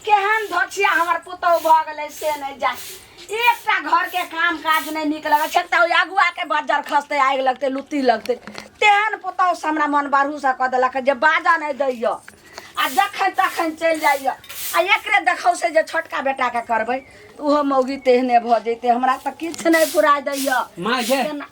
केहन धोछिया हमर पुतहु भऽ गेलै से नहि जा एकटा घरके काम काज नहि नीक लगै छै तऽ ओहि अगुआके बज्जर खसतै आगि लगतै लुत्ती लगतै तेहन पुतहुसँ हमरा मन बरहूसँ कऽ देलक जे बाजऽ नहि दैय आ जखन तखन चलि जाइय आ एकरे देखौ से जे छोटका बेटाके करबै तऽ ओहो मौगी तेहने भऽ जैतै हमरा तऽ किछु नहि फुराय दैय माँ ये केना-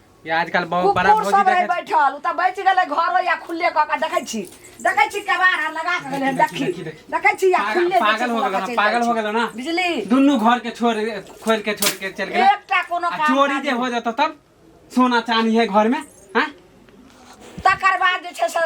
ई आजकल बहुत बड़ा कुकुर भौजी सब रहे देखे बैठल उ त बैच गेले घरो या खुले क के देखै छी देखै छी केबार आ लगा के गेले देखी, देखी देखी, देखी। देखै छी या पागल- खुले पागल हो गेलो ना, पागल हो गेलो ना। बिजली दुनू घर के छोड़ खोल के छोड़ के चल गेल एकटा कोनो आ काम चोरी काज जे हो जतो तब सोना चांदी है घर में हैं तकर बाद जे छै से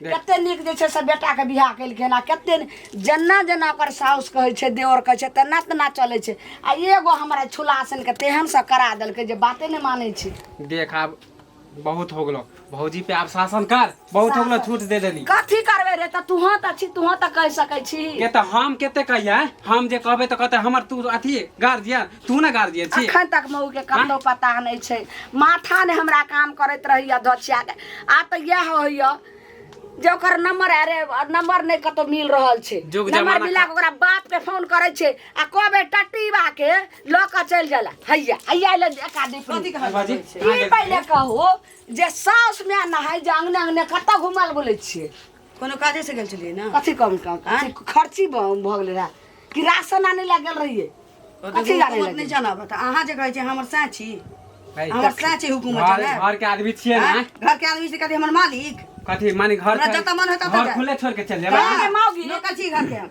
कते नीक जे छै से बेटाके बियाह केलखिन आ कते जेना जेना ओकर साउस कहै छै देवर कहै छै तेना तेना चलै छै आ एगो हमरा छुलासनके तेहनसँ करा देलकै जे बाते नहि मानै छै देख आब बहुत हो गेलो भौजी पे आब शासन कर बहुत हो गेलो छूट दे देली कथी करबै रे तऽ तुहँ तऽ छी तुहँ तऽ कहि सकै छी के तऽ हम कते कहियै हम जे कहबै तऽ कहतै हमर तू अथी गार्जियन तू ना गार्जियन छी अखन तक मऊ के कतौ पता नहीं छै माथा ने हमरा काम करैत रही अध्यक्षा के आ तऽ यह होइया जे ओकर नंबर अरे नंबर नहीं कतौ मिल रहल छै जुग नंबर जमाना मिला के ओकरा बाप के फोन करे छै आ कहबे टटीबा के लऽ के चल जाला हैया हैया ले एका दीपनी बाजी ई पहिले कहू जे साउस में नहाय जे अंगने अंगने कतऽ घुमल बोलै छियै कोनो काजे से गेल छलियै ना कथी कम कम कथी खर्ची भ भ गेलै रहए कि राशन आनै लए गेल रहियै तो कथी देखू, जानै हुकूमत लए नहीं गेल? जाना बता अहाँ जे कहै छियै हमर साँच छी है, हमर कथी? साँच छै हुकूमत घर- जाना घर के आदमी छियै ना आँय? घर के आदमी से कहते हमर मालिक कथी माने घर हमरा जतऽ मन होता घर ततऽ। खुले छोड़ के चल जाए कहाँ? माउगी। लोकल छी घर के हम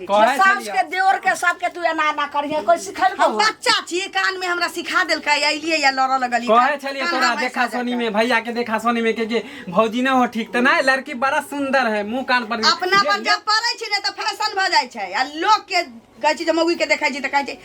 कहै सास के छलियै देवर के सबके तू एना एना करिहे कोई सिखल हम बच्चा छी कान में हमरा सिखा देलकै अइलिए या लड़ऽ लगली कहै छलियै कान तोरा हमरा देखा साजा सोनी कर। में भैया के देखा सोनी में के के भौजी ना हो ठीक त ना लड़की बड़ा सुंदर है मुंह कान पर अपना पर जब पड़ै छी ने तऽ फैशन भऽ जाइ छै आ लोक के कहै छी जे मौगी के देखै छी तऽ कहै छी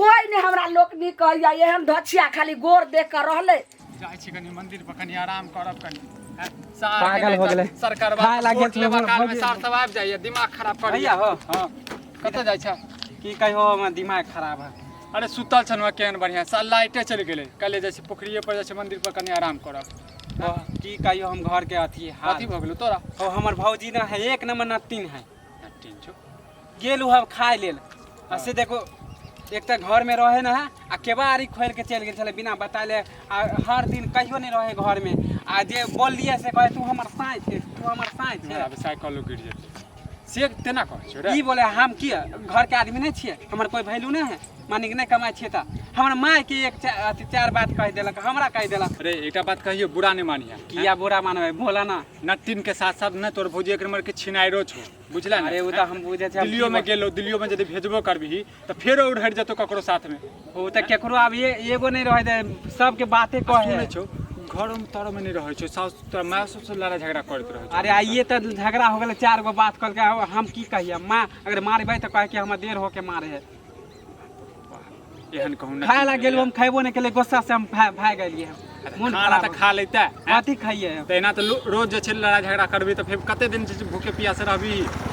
कोई ने हमरा लोक नहीं कहैया एहन धछिया खाली गोर देख कर रहले जाइ छी कनी मंदिर पर कनी आराम करब कनी हैं? सार पागल केने हो गेलै। तऽ सरकार खाय बाप लागे वोट छै, लेबा वोट काल में लेबा। सार सब आबि जाइए दिमाग खराब कर भैया हो हाँ कतऽ जाइ छ की कहियो हमर दिमाग खराब है अरे सुतल छन वहाँ केहन बढ़िया साल लाइटे चलि गेलै कल जाइ छी पोखरिए पर जाइ छी मंदिर पर कनी आराम करब ओ, की कहियो हम घर के अथी हाल कथी भऽ गेलौ तोरा ओ हमर भौजी ना है एक नंबर नत्तीन है टिन छौ गेल हम खाय लेल आ से देखो एक तऽ घरमे रहै न है आ केबाड़ी खोलि कऽ चलि गेल छलै बिना बताले आ हर दिन कहियो नहि रहै घरमे आ जे बोललियै से कहै तू हमर साँझ छै तू हमर साँझ छै अभी साइकिलो गिर जेतै से तेना कहै छौ रे ई बोले हम की घरके आदमी नहि छियै हमर कोइ वैल्यू नहि है मानिक नहि कमाइ छियै तऽ हमर मायके एक चा- अथी चारि बात कहि देलक हमरा कहि देलक रे एकटा बात कहियो बुरा नहि मानिहे किया बुरा मानबै बोला ना नट्टिन के साथ साथ ने तोर भौजी एक नंबर के छिनाइरो छौ बुझला ने अरे ओ तऽ हम बुझै छै दिल्लियो में गेलो दिल्लियो में यदि भेजबो करबही तऽ फेरो उड़ हट जेतो ककरो साथ में ओ तऽ केकरो आब ए- एगो नहि रहै दे सबके बाते कहै सुनै छौ घरो में तोरो में नहीं रहै छौ सास तोरा माय ससुर लड़ाई झगड़ा करैत रहै छौ अरे आइए तऽ झगड़ा हो गेलै चार गो बात कहलकै अब हम की कहिए माँ अगर मारबै तऽ कहै कि हमरा देर होके मारे है एहन कहूँ ना खाए ला गेल हम खाइबो नहीं केले गुस्सा से हम भा- भाग गेलिए मोन खाना खराब तऽ खा लेते हैं। कथी खाइए हम? तऽ एना तऽ लो- रोज जे छै लड़ाइ झगड़ा करबी तऽ फेर कते दिन जे छै भूखे पियासे रहबी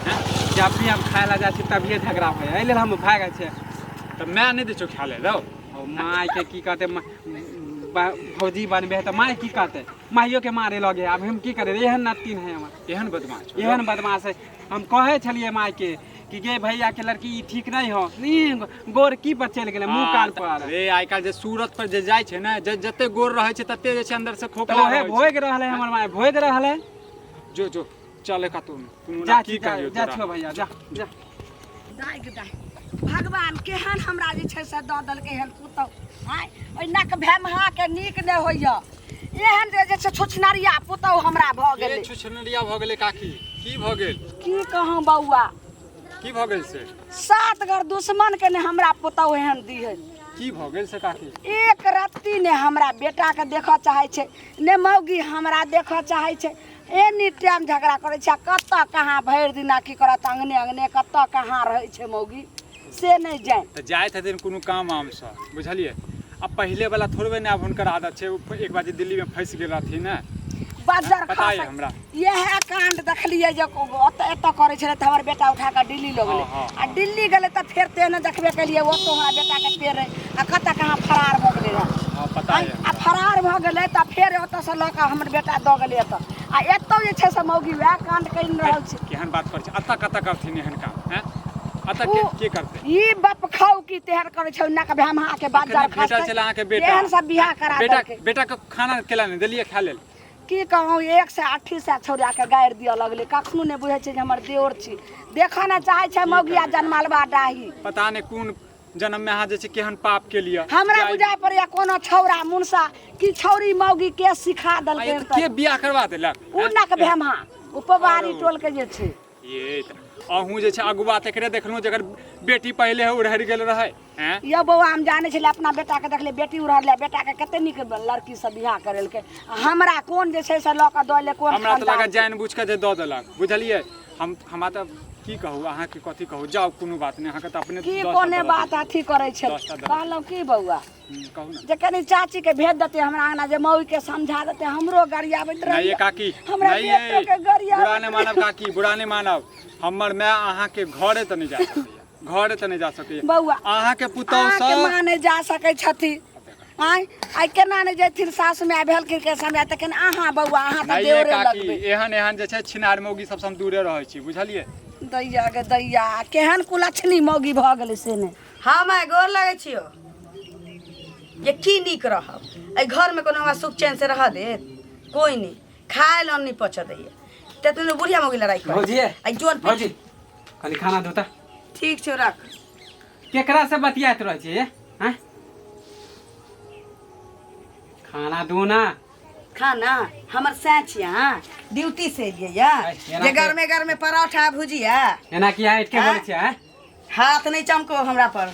हैं? जब भी हम खाए ला जाइ छी तभिए झगड़ा होइए एहि लेल हम भाग जाइ छियै तऽ माय नहि दै छौ खाय ले रौ ओ माय के की कहते मा- बा- भौजी बनबे है तऽ माय की कहते माइयो के मारे लगे आब हम की करे एहन नतिन है हमर एहन बदमाश छौ एहन बदमाश है हम कहे छलिए माय के कि गे भैया के लड़की ई ठीक नहीं हो ई गोर की पर चल गेले मुंह कान पर रे आइ काल्हि जे सूरत पर जे जाइ छै ने जे जते गोर रहै छै तते जे छै अंदर से तो खोखला ओहे रहै छै। भोग रहले हमर माय भोग रहले जो जो चले का तुम तुम जा ना की जा कहियो जा तोरा। छो भैया जा जा दाइ गे दाइ भगवान केहन हमरा जे छै से दऽ देलकै हन पुतहु आँय ओहि नक भेमहाके नीक नहि होइए एहन जे जे छै छोछनरिया पुतहु हमरा भऽ के गेलै छुछनरिया भऽ गेलै काकी की भऽ गेल की कहूँ बौआ की भऽ गेल से सात घर दुश्मन के ने हमरा पुतहु एहन दी है की भऽ गेल से काकी एक रत्ती ने हमरा बेटा के देखऽ चाहे छै ने मौगी हमरा देखऽ चाहे छै एनी टाइम झगड़ा करै छै आ कतऽ कहाँ भरि दिना की करत अङ्गने अङ्गने कतऽ कहाँ रहै छै मौगी से नहि जाए तऽ जाइत हथिन कोनो काम आमसँ बुझलियै आ पहिले वाला थोड़बे ने आब हुनकर आदत छै एक बार जे दिल्लीमे फँसि गेल रहथिन ने बजर पता यऽ हमरा इएह कांड देखलियै जे ओतऽ एतऽ करै छलै तऽ हमर बेटा उठा कऽ दिल्ली लऽ गेलै हाँ, हाँ। आ दिल्ली गेलै तऽ फेर तेहने देखबे केलियै ओतऽ हमरा बेटाके पेड़ रहै आ कतऽ कहाँ फरार भऽ गेलै रहए हँ पता यऽ आ फरार भऽ गेलै तऽ फेर ओतऽसँ लऽ कऽ हमर बेटा दऽ गेलै एतऽ आ एतौ जे छै से मौगी वएह कांड कर रहल छै केहन बात कर छै अत्ता कत्ता करथिन एहन काम हैं अत्ता के के करते ई बप खाऊ की तेहर कर छै ना के हम हां के बात जर खास बेटा चला के बेटा एहन सब बियाह करा दे बेटा बेटा के खाना केला ने देलिए खा लेल की कहूँ एक से अठी से छोड़ा के गाड़ दिया लगले कखनो ने बुझे छै हमर देवर छी देखा ना चाहे छै मौगिया जनमालवा डाही पता ने कोन जन्म में अहाँ जे छै केहन पाप के लिए हमरा बुझा पड़ैया कोनो छौरा मुनसा की छौरी मौगी के सिखा देलकै के बियाह करवा देलक उ नक भेमा उपवारी टोल के जे छै ये अहूँ जे छै अगुआ तक रे देखलहुँ जकर बेटी पहले है उड़हर गेल रहे यो बौआ हम जाने छलियै अपना बेटा के देखले बेटी उड़हर ले बेटा के कते निक लड़की से बियाह करेलके हमरा कोन जे छै से लऽ के दऽ ले कोन हमरा तऽ लगा जान बुझ के जे दऽ देलक बुझलियै हम हमरा तऽ की कहू अहाँके कथी कहू जाउ कोनो बात नहि अहाँके तऽ अपने की दस टा कोने दरद बात देत। अथी करै छै दस टा दरद। कहलहुँ की बौआ हम्म, कहू ने जे कनी चाची के भेज देते हमरा अंगना जे मौगी के समझा देते हमरो गरियाबैत नहीं रही ये काकी हमरा नहीं बेटो ये के गरिया बुरा नहीं मानब काकी बुरा नहीं मानब हमर माय अहाँ के घरे त नहीं जा सकैया घरे त नहीं जा सके बौआ अहाँ के पुतौ अहाँ के सब माँ नहीं जा सके छथि आय आय केना नहीं जेथिन सास में आ भेल के समय तखन अहाँ बौआ अहाँ त नहीं ये देवरे काकी लगबे एहन एहन जे छै छिनार मौगी सबसँ हम दूरे रहै छी बुझलियै दैया गे दैया केहन कुलक्षणी मौगी भऽ गेलै से ने हम आइ गोर लगै छियो जे की नीक रहब एहि घरमे कोनो हमरा सुख चैन से रहऽ देत कोइ नहि खाय लए नहि पचऽ दैए तेतने बुढ़िया मौगी लड़ाइ कर भौजी। आ जोन भौजी। कनी खाना दो त ठीक छौ रख केकरा से बतियात रह छी हैं खाना दो ना खाना हमर सैं छियै अहाँ ड्यूटी से एलियै या अइ, एना जे के- गरमे गरमे पराठा भुजिया एना कि यहाँ इटके हाँ? बोले छी हैं हाथ नहीं चमको हमरा पर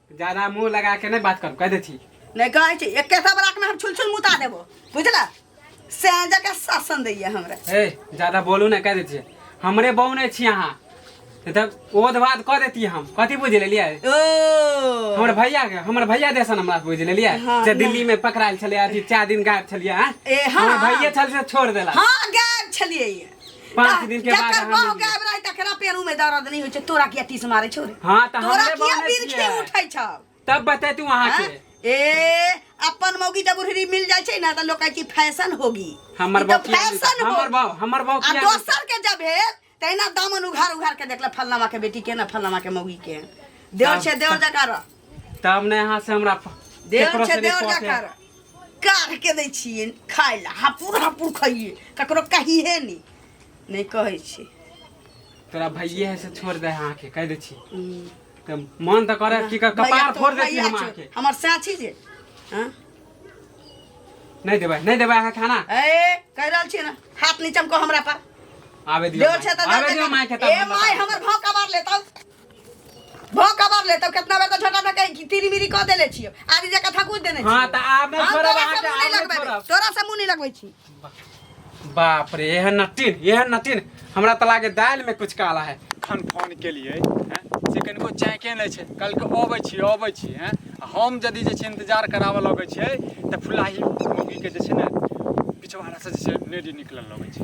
ज्यादा मुंह लगा के नहीं बात कर कह दे छी नहीं कहे छी एक सब राख में हम छुल छुल मुता देबो बुझला से जगह शासन दैया हमरा ए ज्यादा बोलू ना कह दे छी हमरे बहू नहीं छी अहाँ नहीं तब ओध बात कह देती हम कथी बुझ लेलिए ओ हमर भैया के हमर भैया देसन हमरा बुझ लेलिए हाँ, जे दिल्ली में पकड़ायल छलिए अथी चार दिन गायब छलिए हाँ ए, हाँ। हमर भैया छल से छोड़ देला हाँ गायब छलिए ये पाँच दिन के बाद जकर बहू हम गायब रहे तकरा पेरू में दर्द नहीं होइ छै तोरा किया तीस मारे छौ रे हाँ तऽ तोरा हमरे किया बहने बिरखे छियै। उठै छौ तब बतेतू अहाँ हाँ? के ए अपन मौगी जब उहरी मिल जाइ छै ना त लोग कहै कि फैशन होगी हमर ई तऽ बाप किया मिलतै? फैशन हमर होगी बाप हमर बाप आ किया मिलतै? दोसर के जब भेल तहिना दामन उघार उघार के देखला फलनामा के बेटी के ना फलनामा के मौगी के देवर छै देवर जका रह तब ने यहाँ से हमरा प- देर केकरो छै से देर रिपोर्ट जकर है। काढ़ के दै छियै खाय लए हापुर हापुर खइए ककरो कहिहे नहि नहि कहै छै तोरा भैये है से छोड़ दे यहाँ के कह दे छी तऽ मन तऽ करे कि क- भैया कपार तो फोड़ दे छी भैया हम छौ। अहाँ के हमर साथी जे हँ? नहीं देबै नहीं देबै अहाँ खाना ए कह रहल छियै ने हाथ नीचा कह हमरा पर आबे दियो देवर छै तऽ आबे देवर दियो छै। माय के ए माय हमर भाव कबार लेतौ भो कबर ले तब कितना बेर तो छोटा सा कहीं तिरी मिरी कह देले छियो आदि जका थकुच देने छियो हां त आब नहीं हम छोड़ब तोरा अहाँ से के मुंह नहीं आब नहीं लगबे छोड़ब तोरा से मुंह नहीं लगबे छी बाप रे यह नटिन यह नटिन हमरा त लागे दाल में कुछ काला है खन फोन के लिए हैं से कनिको चैके नहीं छै कल के अबै छी अबै छी हैं आ हम यदि जे छै इंतजार कराबऽ लगै छै तऽ फुलाही मौगी के जे छै ने पिछवाड़ा से जे छै नेडी निकलल लगै छै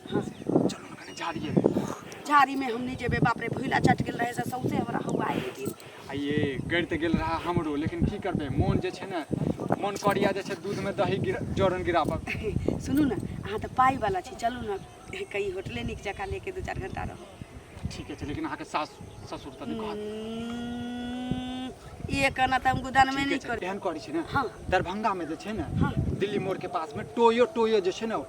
हाँ। चलो ना कने झाड़ी है झाड़ी में हम नहीं जेबे बाप रे भूला चट गेल रहे से सौसे हमरा हवा आए लेकिन आइए गड़ ते गेल रहा हमरो लेकिन की करबे मोन जे छै ना मोन करिया जे छै दूध में दही गिर जोरन गिराबक सुनू ना अहाँ तऽ पाई वाला छी चलू ना कहीं होटले नीक जकाँ लेके दू चार घंटा रहू ठीक है लेकिन अहाँ के सास ससुर तनी कहत हम्म, ये कहना तऽ हम गुदान में ठीक नहीं छै कर एहन करै छै ना हाँ। दरभंगा में जे छै ना हाँ। दिल्ली मोड़ के पास में टोयो टोयो जे छै ना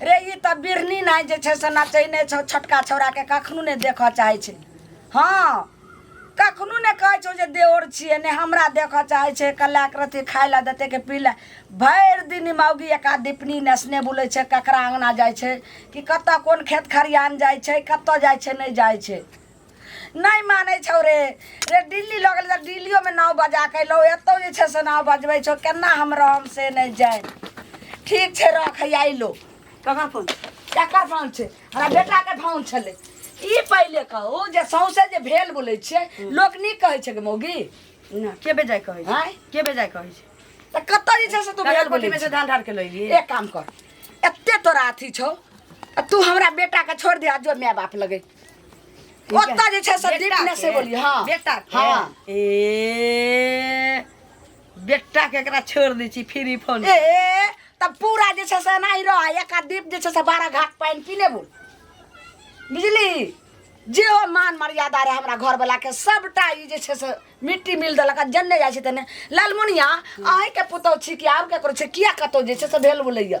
रे ई तऽ बिरनी नाइ जे छै से नचैने छौ छोटका छौड़ाके कखनो नहि देखऽ चाहै छै हँ कखनो नहि कहै छौ जे देवर छियै ने हमरा देखऽ चाहै छै कल्ला रथी खाय लए देतै के पी लए भरि दिन मौगी एका दीपनी नेसने बुलै छै ककरा अङ्गना जाइ छै कि कतऽ कोन खेत खरिहान जाइ छै कतऽ जाइ छै नहि जाइ छै नहि मानै छौ रे रे दिल्ली लऽ गेलै तऽ दिल्लियोमे नाव बजा कऽ अयलहुँ एतौ जे छै से नाव बजबै छौ केना हम रहब से नहि जाय ठीक छै रख हैया अयलो ककर फोन केकर फोन छै हमरा बेटाके फोन छलै ई पहिले कहू जे सौंसे जे भेल बोलै छियै लोक नीक कहै छै गे मौगी ना के बेजाय कहै छै आँय? के बेजाय कहै छै तऽ कतऽ जे छै से तू भेल कागज बोलै पट्टी में से छी? धान ढार के लैली एक काम कर एते तोरा अथी छौ आ तू हमरा बेटाके छोड़ दे आ जो माय बाप लगे ओतऽ जे छै से बेटा दीपने से के? बोलिए हाँ बेटा के? हाँ ए बेटा के एकरा छोड़ दै छी फ्री फोन ए तब पूरा जे छै से एनाही रह एक आध दीप जे छै से बारह घाट पानि पीने बोल बुझली जे हो मान मर्यादा रहे हमरा घर वाला के सबटा ई जे छै से मिट्टी मिल देलक आ जन्ने जाइ छै तने लालमुनिया अहीं के पुतौ छी कि आब केकरो छै किया कतौ जे छै से भेल बोलैया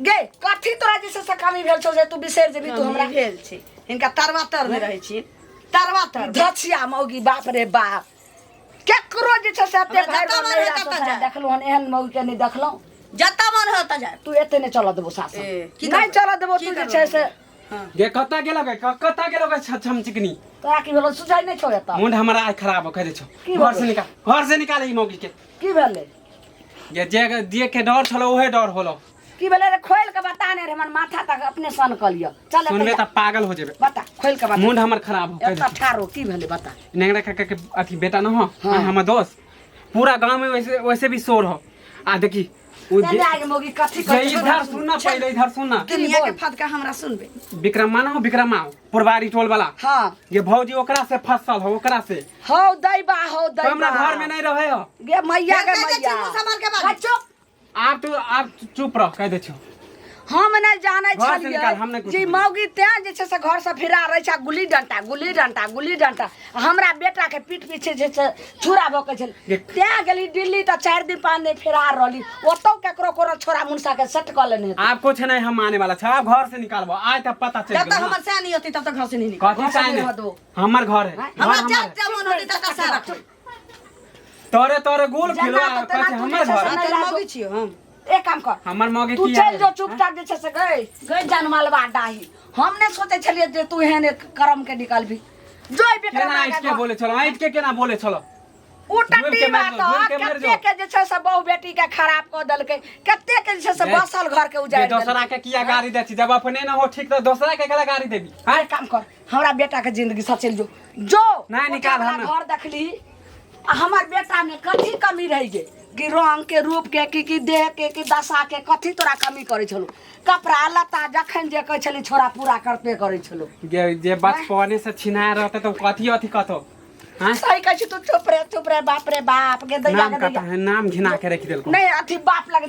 गे कथी तोरा जैसे से कमी भेल छौ जे तू बिसरि जेबी तू हमरा भेल छी इनका तरवा तर में रहै छी तरवा तर धछिया मौगी बाप रे बाप केकरो जे छै से एते हमरा भाई जतऽ बहन मन नहिरा होइत से ततऽ जाय। देखलहुँ हन एहन मौगी के नहि देखलहुँ जतऽ मन हो तऽ जाय तू एते नहि चलऽ देबो सासु ए, की नहि करबै? चलऽ देबो की तू जे करबै? छै से हँ। गे कतऽ गेलो गे क- कतऽ गेलो गे छ- छम चिकनी तोरा की भेलो सुझाइ नहि छौ एतऽ मुंड हमरा आइ खराब कह दे छो की घर से भेलै? निकाल घर से निकाल ई मौगी के की भेलै जे जे जे के डर छलो ओहे डर होलो की भेलै रे खोल के बता ने रे हमर माथा तक अपने सन क लियो चल सुनबे त पागल हो जेबे बता खोल के बता मुंड हमर खराब हो एत ठारो की भेलै बता नेंगरा काका के अथी बेटा न हो हाँ। हमर दोस्त पूरा गांव में वैसे वैसे भी शोर हो आ देखी उ जे- चल आगे मोगी कथी जे कर इधर सुनना पहले इधर सुनना दुनिया के फदका हमरा सुनबे विक्रमा ना हो विक्रमा हो पुरवारी टोल वाला हाँ ये भौजी ओकरा से फसल हो ओकरा से हौ दैबा हौ तो हमरा दैबा घर में नहीं रहे हो गे मैया गे कैसे मैया चुप संभाल के बात? आ, चुप आप तू आप चुप रह कह दे छो हम नहि जानै घर से निकाल, हम छलियै नहि कुछ जे बुझै। मौगी तें जे छै से घर से फिरा रहै छै गुल्ली डंटा गुल्ली डंटा गुल्ली डंटा आ हमरा बेटा के पीठ पीछे जे छै चूरा भोकै छल तैं गेली दिल्ली तऽ चारि दिन पाँच दिन फरार रहली ओतौ केकरो कोनो छोरा मुनसा के सेट कऽ लेने हेतै। आब कुछ नहीं हम माने वाला छा घर से निकालबो आय तब पता चल जब तक हमर सैन नहीं होती तब तक घर से नहीं निकल कथी साइन है हमर घर है घर हमरा हमर जब है। जब मन होती तब तक सारा तोरे तोरे गोल जेना खेलो तो तेना कथी तू हमर जे छै घर से है। नहीं तेरे रहबो। मौगी छियो हम एक काम कर हमर मौगे तू की चल आयल? जो चुपचाप जे छै से गई गई जान मालवा डाही हम ने सोचे छलिए जे तू एहन एक करम के निकलबी जो ई विक्रम केना आगा आइट के जो। बोले छलो आइट के केना बोले छलो उ जोर के टट्टी मार बात दो, जोर के मार कते दो। के जे छै से बहु बेटी के खराब क देलकै कते के जे छै से जे- बसल घर के जे उजाड़ दोसरा देलकै। के किया गाड़ी दै छी जब अपने न हो ठीक त दोसरा के केला गाड़ी देबी हां एक काम कर हमरा बेटा के जिंदगी सचल जो जो नहीं, निकाल ओकरा हमरा। घर देखली आ हमर बेटामे कथी कमी रहि गेल कि रङ्गके रूपके कि कि देहके कि दशाके कथी तोरा कमी करै छलौ कपड़ा लत्ता जखन जे कहै छली छोरा पूरा करते करै छलौ जे जे बचपने से छिना रहते तो कथी अथी कथो हाँ? सही कहै छी तू चुप रे चुप रे बाप रे बाप गे दैया नाम गे कथा दैया है नाम घिना के रख देलको नहीं अथी बाप लगे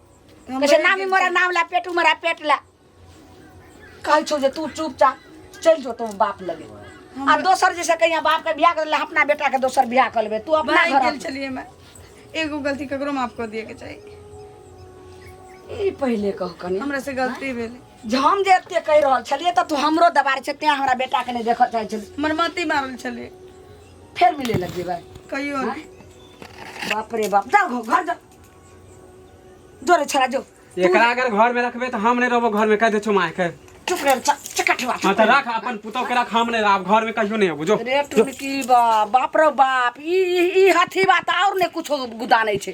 कैसे नामी मोरा नाम ला पेट उमरा पेट ला कल छो जे तू चुपचाप चल जो तुम बाप लगे आ दोसर जैसे कहीं बाप के बियाह कर ले अपना बेटा के दोसर बियाह कर लेबे तू अपना भाई घर गेल चलिए मैं एगो गलती ककरो माफ कर दिए के चाहिए ई पहिले कह कनी हमरा से गलती भेल जे हम जे एते कह रहल छलिए त तू हमरो दबार छै तें हमरा बेटा के नहीं देख चाहे छल हमर मती मारल छलिए फेर मिले लग जेबै कहियो हाँ? बाप रे बाप जा घ- घर जा जो रे छोरा जो एकरा अगर घर में रखबे तो हम नहीं रहबो घर में कह दे छो माय के चुप रे चा- चकट बा हाँ तो रख अपन पुतौ के रख हम नहीं रहब घर में कहियो नहीं होबो जो रे टुनकी बा बाप रे बाप ई ई- ई हाथी बात और ने कुछो गुदा नहीं छै